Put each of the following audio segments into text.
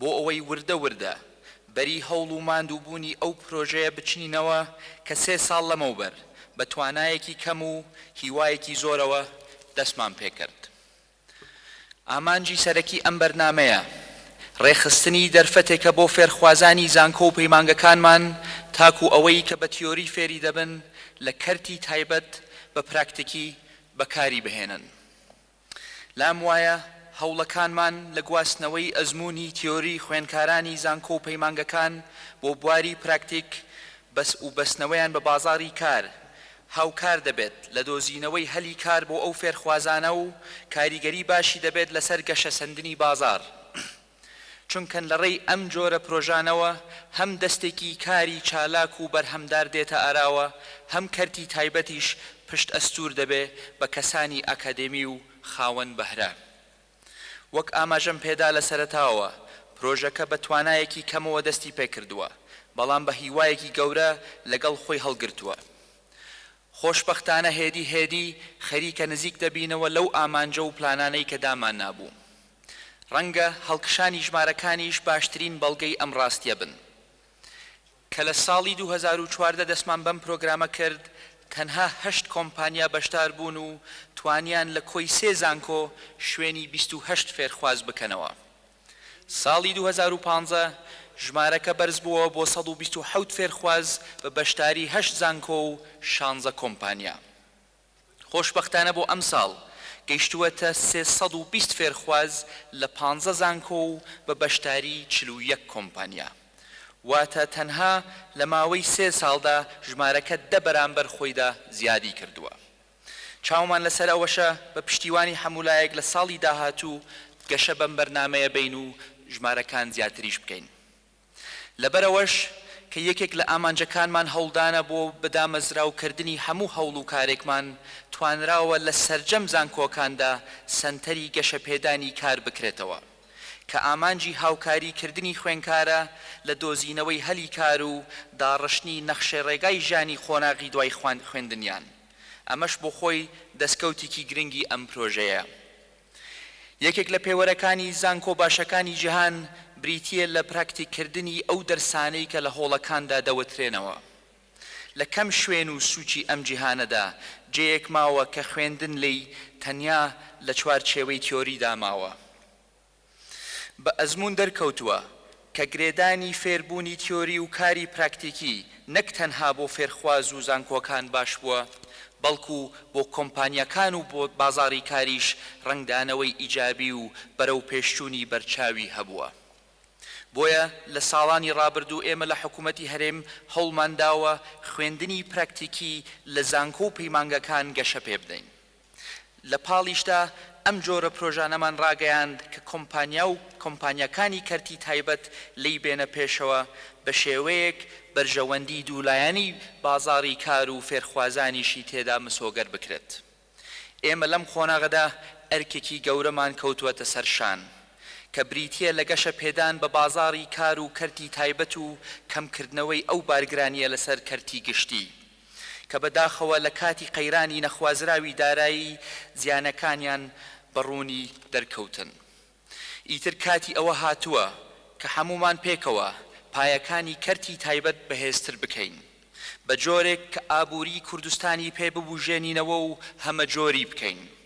بۆ ئەوەی وردە وردە بەری هەوڵ و ماندووبوونی ئەو پرۆژەیە بچنینەوە کە سێ ساڵ لەمەوبەر بە توانایەکی کەم و هیوایەکی زۆرەوە دەستمان پێکرد. ئامانجی سەرەکی ئەم بەرنامەیە ڕێکخستنی دەرفەتێکە بۆ فێرخوازانی زانکۆ و پەیمانگەکانمان تاکوو ئەوەی کە بە تیۆری فێری دەبن لە کەرتی تایبەت بە پراکتیکی بەکاری بهێنن. لام وایە هەوڵەکانمان لە گواستنەوەی ئەزموونی تیۆری خوێندکارانی زانکۆ و پەیمانگەکان بۆ بواری پراکتیک و بەستنەوەیان بە بازاڕی کار هاوکار دەبێت لە دۆزینەوەی هەلی کار بۆ ئەو فێرخوازانە و کاریگەری باشی دەبێت لەسەر گەشەسەندنی بازاڕ چونکە لەڕێی ئەم جۆرە پرۆژانەوە هەم دەستێکی کاری چالاک و بەرهەمدار دێتە ئاراوە، هەم کەرتی تایبەتیش پشت ئەستوور دەبێ بە کەسانی ئاکادێمی و خاوەن بەهرە. وەک ئاماژەم پێدا لە سەرەتاوە، پرۆژەکە بە توانایەکی کەمەوە دەستی پێکردووە، بەڵام بە هیوایەکی گەورە لەگەڵ خۆی هەڵگرتووە. خۆشبەختانە هێدی هێدی خەریکە نزیک دەبینەوە لەو ئامانجە و پلانانەی کە داماننابوو. ڕەنگە هەڵکشانی ژمارەکانیش باشترین بەڵگەی ئەم ڕاستیە بن. کە لە ساڵی دوو هەزار و چواردە دەستمان بەم پرۆگرامە کرد، تەنها هەشت کۆمپانیا بەشدار بوون و توانیان لە کۆی سێ زانکۆ شوێنی بیست و هەشت فێرخواز بکەنەوە. ساڵی دوو هەزار و پازدە ژمارەکە بەرزبووەوە بۆ سەد و بیست و حەوت فێرخواز بە بەشداری هەشت زانکۆ و شانزە کۆمپانیا. خۆشبەختانە بۆ ئەمساڵ گەیشتووەتە سێ سەد و بیست فێرخواز لە پانزە زانکۆ و بە بەشداری چل و یەک کۆمپانیا، واتە تەنها لە ماوەی سێ ساڵدا ژمارەکە دە بەرامبەر خۆیدا زیادی کردووە. چاومان لەسەر ئەوەشە بە پشتیوانی هەموولایەک لە ساڵی داهاتوو گەشە بەم بەرنامەیە بین و ژمارەکان زیاتریش بکەین. لەبەرئەوەش کە یەکێک لە ئامانجەکانمان هەوڵدانە بۆ بەدامەزراو کردنی هەموو هەوڵ و کارێکمان توانراوە لە سەرجەم زانکۆکاندا سەنتەری گەشەپێدانی کار بکرێتەوە کە ئامانجی هاوکاری کردنی خوێنکارە لە دۆزینەوەی هەلی کار و داڕشتنی نەخشەی ڕێگای ژیانی قۆناغی دوای خوێندنیان ئەمەش بۆخۆی دەسکەوتیکی گرنگی ئەم پرۆژەیە. یەکێک لە پێوەرەکانی زانکۆ باشەکانی جیهان بریتییە لە پراکتیککردنی ئەو دەرسانەی کە لە هۆڵەکاندا دەوترێنەوە. لە کەم شوێن و سوچی ئەم جیهانەدا جێیەک ماوە کە خوێندن لێی تەنیا لە چوارچێوەی تیۆریدا ماوە. بە ئەزموون دەرکەوتووە کە گرێدانی فێربوونی تیۆری و کاری پراکتیکی نەک تەنها بۆ فێرخواز و زانکۆکان باش بووە، بەڵکو بۆ کۆمپانیاکان و بۆ بازاڕی کاریش ڕەنگدانەوەی ئیجابی و بەرەوپێشچوونی بەرچاوی هەبووە. بۆیە لە ساڵانی ڕابردوو ئێمە لە حکومەتی هەرێم هەوڵمانداوە خوێندنی پراکتیکی لە زانکۆ و پەیمانگەکان گەشەپێبدەین. لە پاڵیشدا ئەم جۆرە پرۆژانەمان ڕاگەیاند کە کۆمپانیا و کۆمپانیاکانی کەرتی تایبەت لێی بێنە پێشەوە بە شێوەیەک بەرژەوەندی دوولایەنی بازاڕی کار و فێرخوازانیشی تێدا مسۆگەر بکرێت ئێمە لەم قۆناغەدا ئەرکێکی گەورەمان کەوتووەتە سەر شان کە بریتییە لە گەشە پێدان بە بازاڕی کار و کەرتی تایبەت و کەمکردنەوەی ئەو بارگرانییە لەسەر کەرتی گشتی. کە بەداخەوە لە کاتی قەیرانی نەخوازراوی دارایی زیانەکانیان بە ڕوونی دەرکەوتن. ئیتر کاتی ئەوە هاتووە کە هەموومان پێکەوە پایەکانی کەرتی تایبەت بەهێزتر بکەین، بە جۆرێک کە ئابووریی کوردستانی پێ ببووژێنینەوە و هەمەجۆری بکەین.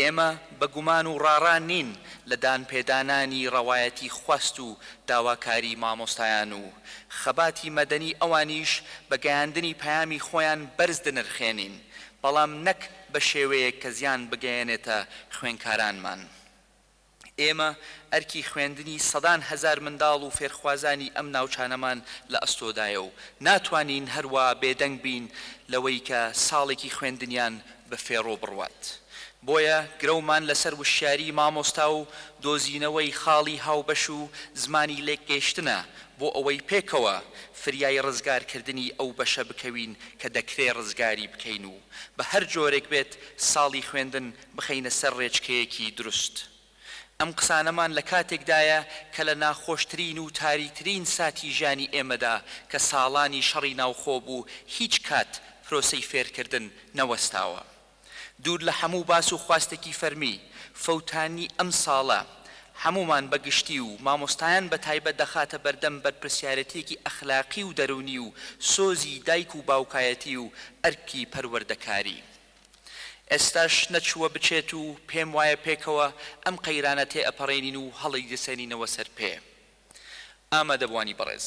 ئێمە بە گومان و ڕاڕا نین لە دانپێدانانی ڕەوایەتی خواست و داواکاری مامۆستایان و خەباتی مەدەنی ئەوانیش بە گەیاندنی پەیامی خۆیان بەرز دنرخێنین بەڵام نەک بە شێوەیەک کە زیان بگەیەنێتە خوێنکارانمان. ئێمە ئەرکی خوێندنی سەدان هەزار منداڵ و فێرخوازانی ئەم ناوچانەمان لە ئەستۆدایە و ناتوانین هەروا بێدەنگ بین لەوەی کە ساڵێکی خوێندنیان بە فێڕۆ بڕوات بۆیە گرەومان لەسەر وشیاریی مامۆستا و دۆزینەوەی خاڵی هاوبەش و زمانی لێکگەیشتنە بۆ ئەوەی پێکەوە فریای ڕزگارکردنی ئەو بەشە بکەوین کە دەکرێ ڕزگاری بکەین و بە هەر جۆرێک بێت ساڵی خوێندن بخەینە سەر رێچکەیەکی دروست. ئەم قسانەمان لە کاتێکدایە کە لە ناخۆشترین و تاریترین ساتی ژیانی ئێمەدا کە ساڵانی شەڕی ناوخۆ بوو هیچ کات پرۆسەی فێرکردن نەوەستاوە. دوور لە هەموو باس و خواستێکی فەرمی، فەوتانی ئەم ساڵە هەموومان بە گشتی و مامۆستایان بە تایبەت دەخاتە بەردەم بەرپرسیارێتیەکی ئەخلاقی و دەروونی و سۆزی دایک و باوکایەتی و ئەرکی پەروەردەکاری. ئێستاش نەچووە بچێت و پێم وایە پێکەوە ئەم قەیرانە تێ ئەپەڕێنین و هەڵیدەسێنینەوە سەر پێ. ئامادەبووانی بەڕێز،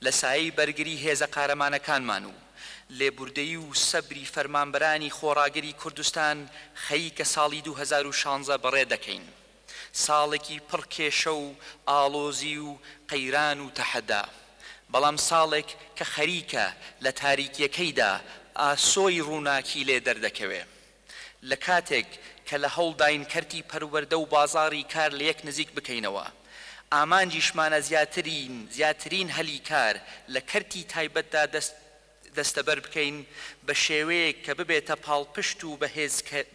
لە سایەی بەرگری هێزە قارەمانەکانمان و لێبوردەیی و سەبری فەرمانبەرانی خۆڕاگری کوردستان خەریکە ساڵی دوو هەزار و شانزە بەڕێ دەکەین. ساڵێکی پڕ کێشە و ئاڵۆزی و قەیران و تەحەدا، بەڵام ساڵێک کە خەریکە لە تاریکییەکەیدا ئاسۆی ڕووناکی لێ دەردەکەوێ. لە کاتێک کە لە هەوڵداین کەرتی پەروەردە و بازاڕی کار لە یەک نزیک بکەینەوە، ئامانجیشمانە زیاترین زیاترین هەلی کار لە کەرتی تایبەتدا دەست دەستەبەر بکەین بە شێوەیەک کە ببێتە پاڵپشت و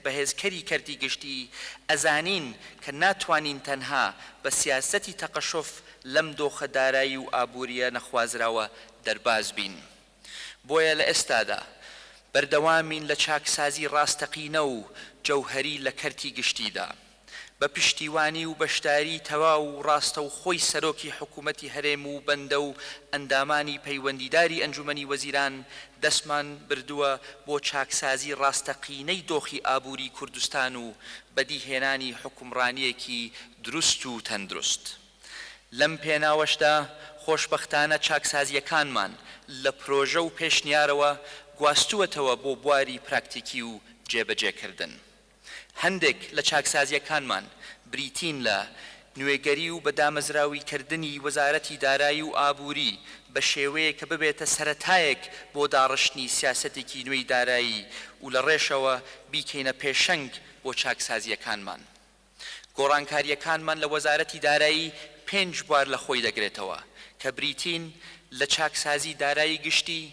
بەهێزکەری کەرتی گشتی، ئەزانین کە ناتوانین تەنها بە سیاسەتی تەقەشف لەم دۆخە دارایی و ئابوورییە نەخوازراوە دەرباز بین. بۆیە لە ئێستادا بەردەوامین لە چاکسازی ڕاستەقینە و جەوهەری لە کەرتی گشتیدا. بە پشتیوانی و بەشداریی تەواو و ڕاستەوخۆی سەرۆکی حکوومەتی هەرێم و بەندە و ئەندامانی پەیوەندیداری ئەنجوومەنی وەزیران دەستمان بردووە بۆ چاکسازی ڕاستەقینەی دۆخی ئابووریی کوردستان و بەدیهێنانی حوکمڕانییەکی دروست و تەندروست لەم پێناوەشدا خۆشبەختانە چاکسازییەکانمان لە پرۆژە و پێشنیارەوە گواستووەتەوە بۆ بواری پراکتیکی و جێبەجێکردن. هەندێک لە چاکسازییەکانمان بریتین لە، نوێگەری و بەدامەزراویکردنی وەزارەتی دارایی و ئابووری بە شێوەیەک کە ببێتە سەرەتایەک بۆ داڕشتنی سیاسەتێکی نوێی دارایی و لە ڕێشەوە بیکەینە پێشەنگ بۆ چاکسازییەکانمان. گۆڕانکارییەکانمان لە وەزارەتی دارایی پێنج بوار لە خۆی دەگرێتەوە کە بریتین لە چاکسازی دارایی گشتی،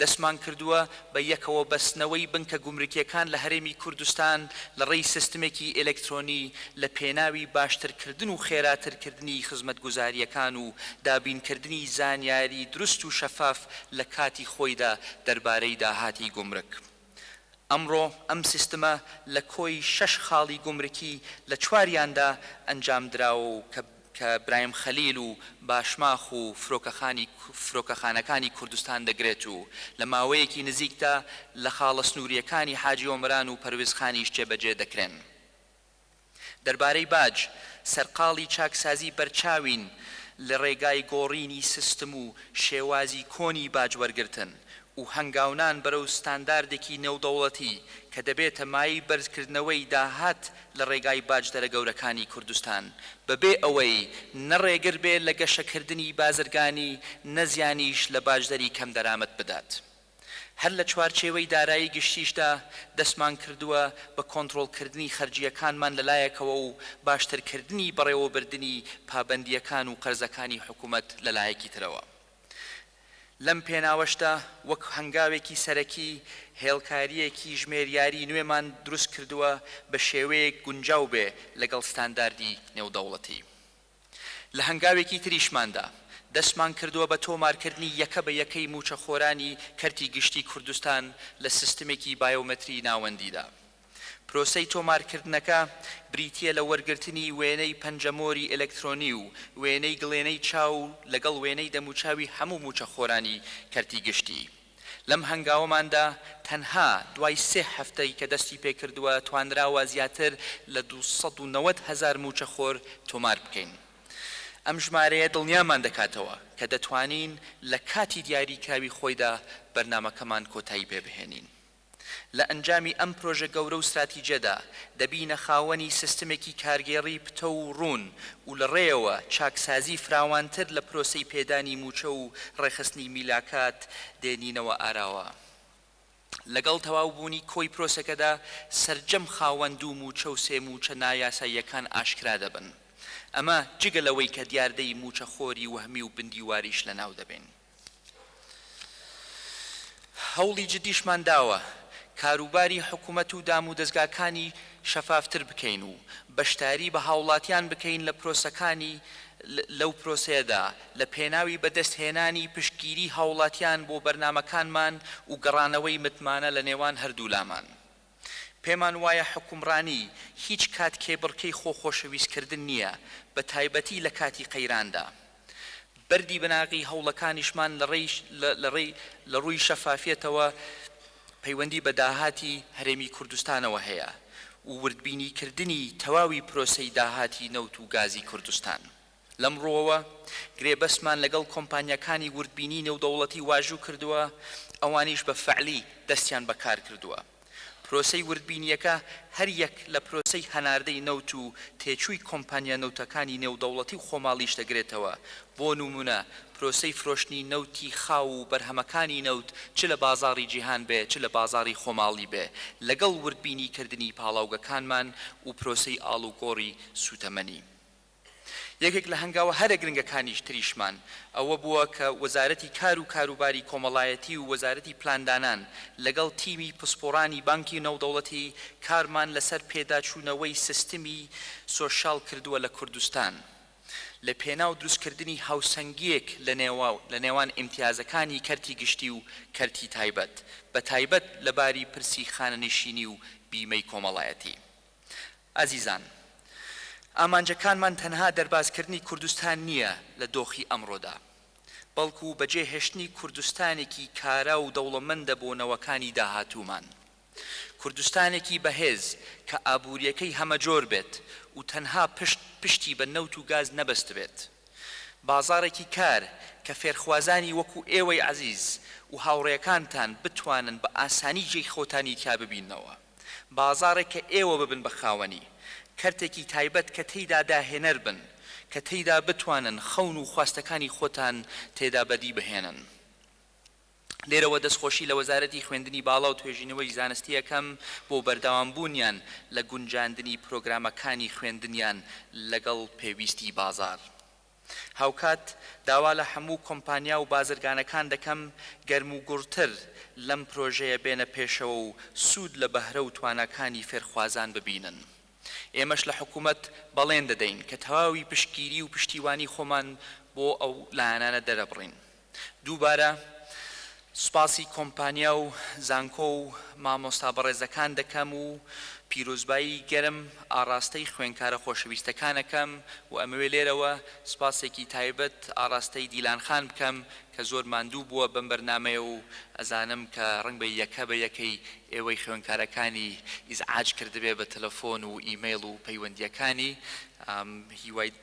دەستمان کردووە بە یەکەوە بەستنەوەی بنکە گومرکییەکان لە هەرێمی کوردستان لە ڕێی سستمێکی ئێلێکترۆنی لە پێناوی باشتر کردن و خێراتر کردنی خزمەتگوزارییەکان و دابین کردنی زانیاری دروست و شەفاف لە کاتی خۆیدا دەربارەی داهاتی گومرک. ئەمڕۆ ئەم سیستمە لە کۆی شەش خاڵی گومرکی لە چواریاندا ئەنجام دراوە و کە برایم خەلیل و باشماخ و فرۆکەخانی فرۆکەخانەکانی کوردستان دەگرێت و لە ماوەیەکی نزیکدا لە خاڵە سنوورییەکانی حاجی ئۆمەران و پەروێزخانیش جێبەجێ دەکرێن. دەربارەی باج، سەرقاڵی چاکسازی بەرچاوین لە ڕێگای گۆڕینی سستم و شێوازی کۆنی باج وەرگرتن و هەنگاونان بەرەو ستانداردێکی نێودەوڵەتی کە دەبێتە مایەی بەرزکردنەوەی داهات لە ڕێگای باجدەرە گەورەکانی کوردستان بەبێ ئەوەی نە ڕێگر بێت لە گەشەکردنی بازرگانی نە زیانیش لە باجدەری کەمدەرامەت بدات. هەر لە چوارچێوەی دارایی گشتیشدا دەستمانکردووە بە کۆنترۆڵکردنی خەرجییەکانمان لە لایەکەوە و باشترکردنی بەڕێوەبردنی پابەندییەکان و قەرزەکانی حکومەت لە لایەکی ترەوە. لەم پێناوەشدا وەک هەنگاوێکی سەرەکی هێڵکارییەکی ژمێریاری نوێمان دروستکردووە بە شێوەیەک گونجاو بێ لەگەڵ ستانداردی نێودەوڵەتی. لە هەنگاوێکی تریشماندا، دەستمان کردووە بە تۆمارکردنی یەکە بە یەکەی مووچەخۆرانی کەرتی گشتیی کوردستان لە سیستمێکی بایۆمەتریی ناوەندیدا. پرۆسەی تۆمارکردنەکە بریتییە لە وەرگرتنی وێنەی پەنجەمۆری ئەلەکترۆنی و وێنەی گڵێنەی چاو لەگەڵ وێنەی دەموچاوی هەموو مووچەخۆرانی کەرتی گشتی. لەم هەنگاوەماندا تەنها دوای سێ هەفتەی کە دەستی پێکردووە توانراوە زیاتر لە دوو سەد و نەوەد هەزار مووچەخۆر تۆمار بکەین. ئەم ژمارەیە دڵنیامان دەکاتەوە کە دەتوانین لە کاتی دیاریکراوی خۆیدا بەرنامەکەمان کۆتایی پێبهێنین. لە ئەنجامی ئەم پرۆژە گەورە و ستراتیجەدا، دەبینە خاوەنی سیستمێکی کارگێڕی پتەو و ڕوون و لە ڕێیەوە چاکسازی فراوانتر لە پرۆسەی پێدانی مووچە و ڕێکخستنی میلاکات دێنینەوە ئاراوە. لەگەڵ تەواوبوونی کۆی پرۆسەکەدا، سەرجەم خاوەن دوو مووچە و سێ مووچە نایاساییەکان ئاشکرا دەبن. ئەمە جگە لەوەی کە دیاردەی مووچەخۆری وەهمی و بندیواریش لەناو دەبەین. هەوڵی جدیشمان داوە کاروباری حکومەت و دامودەزگاکانی شەفافتر بکەین و بەشداری بە هاوڵاتیان بکەین لە پرۆسەکانی لەو پرۆسەیەدا لە پێناوی بەدەست هێنانی پشتگیری هاوڵاتیان بۆ بەرنامەکانمان و گەڕانەوەی متمانە لە نێوان هەردوولامان. پێمان وایە حوکمڕانی هیچ کات کێبڕکێی خۆ خۆشەویست کردن نییە، بە تایبەتی لە کاتی قەیراندا. بەردی بناغی هەوڵەکانیشمان لە ڕێی لە ڕێی لە ڕووی شەفافیەتەوە پەیوەندی بە داهاتی هەرێمی کوردستانەوە هەیە و وردبینی کردنی تەواوی پرۆسەی داهاتی نەوت و گازی کوردستان. لەم ڕووەوە گرێبەستمان لەگەڵ کۆمپانیاکانی وردبینیی نێودەوڵەتی واژوو کردووە، ئەوانیش بە فەعلی دەستیان بە کار کردووە. پرۆسەی وردبینییەکە هەر یەک لە پرۆسەی هەناردەی نەوت و تێچووی کۆمپانیا نەوتەکانی نێودەوڵەتی و خۆماڵیش دەگرێتەوە، بۆ نموونە پرۆسەی فرۆشتنی نەوتی خاو و بەرهەمەکانی نەوت چ لە بازاڕی جیهان بێ چ لە بازاڕی خۆماڵی بێ لەگەڵ وردبینیکردنی پاڵاوگەکانمان و پرۆسەی ئاڵوگۆڕی سووتەمەنی یەکێک لە هەنگاوە هەرە گرنگەکانیش تریشمان ئەوە بووە کە وەزارەتی کار و کاروباری کۆمەڵایەتی و وەزارەتی پلاندانان لەگەڵ تیمی پسپۆڕانی بانکی نەودەوڵەتی کارمان لەسەر پێداچوونەوەی سستمی سۆشیال کردووە لە کوردستان لە پێناو دروستکردنی هاوسەنگییەک لە نێوان ئیمتیازەکانی کەرتی گشتی و کەرتی تایبەت بە تایبەت لە باری پرسی خانەنشینی و بیمەی کۆمەڵایەتی ئازیزان، ئامانجەکانمان تەنها دەربازکردنی کوردستان نییە لە دۆخی ئەمڕۆدا، بەڵکو بەجێهێشتنی کوردستانێکی کارا و دەوڵەمەندە بۆ نەوەکانی داهاتوومان. کوردستانێکی بەهێز کە ئابوورییەکەی هەمەجۆر بێت و تەنها پشت پشتی بە نەوت و گاز نەبەستبێت. بازاڕێکی کار کە فێرخوازانی وەکو ئێوەی ئازیز و هاوڕێکانتان بتوانن بە ئاسانی جێی خۆتانی تیا ببیننەوە. بازاڕێک کە ئێوە ببن بە خاوەنی، کەرتێکی تایبەت کە تێیدا داهێنەر بن، کە تێیدا بتوانن خەون و خواستەکانی خۆتان تێدا بەدی بهێنن. لێرەوە دەستخۆشی لە وەزارەتی خوێندنی باڵا و توێژینەوەی زانستی ئەکەم بۆ بەردەوامبوونیان لە گونجاندنی پرۆگرامەکانی خوێندنیان لەگەڵ پێویستی بازاڕ. هاوکات داوا لە هەموو کۆمپانیا و بازرگانەکان دەکەم گەرموگوڕتر لەم پرۆژەیە بێنە پێشەوە و سوود لە بەهرە و تواناکانی فێرخوازان ببینن. ئێمەش لە حکوومەت بەڵێن دەدەین کە تەواوی پشتگیری و پشتیوانی خۆمان بۆ ئەو لایەنانە دەرەبڕین. دووبارە سوپاسی کۆمپانیا و زانکۆ و مامۆستا بەڕێزەکان دەکەم و پیرۆزبایی گەرم ئاڕاستەی خوێنکارە خۆشەویستەکانەکەم و ئەمەوێ لێرەوە سوپاسێکی تایبەت ئاڕاستەی دیلان خان بکەم کە زۆر ماندوو بووە بەم بەرنامەیە و ئەزانم کە ڕەنگبێ یەکە بە یەکەی ئێوەی خوێنکارەکانی ئیزعاج کردبێ بە تەلەفۆن و ئیمەیڵ و پەیوەندییەکانی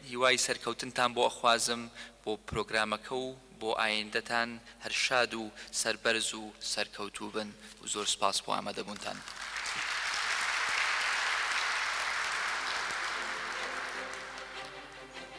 هیوای سەرکەوتنتان بۆ ئەخوازم بۆ پرۆگرامەکە و بۆ ئایندەتان هەر شاد و سەربەرز و سەرکەوتوو بن و زۆر سپاس بۆ ئامادەبوونتان.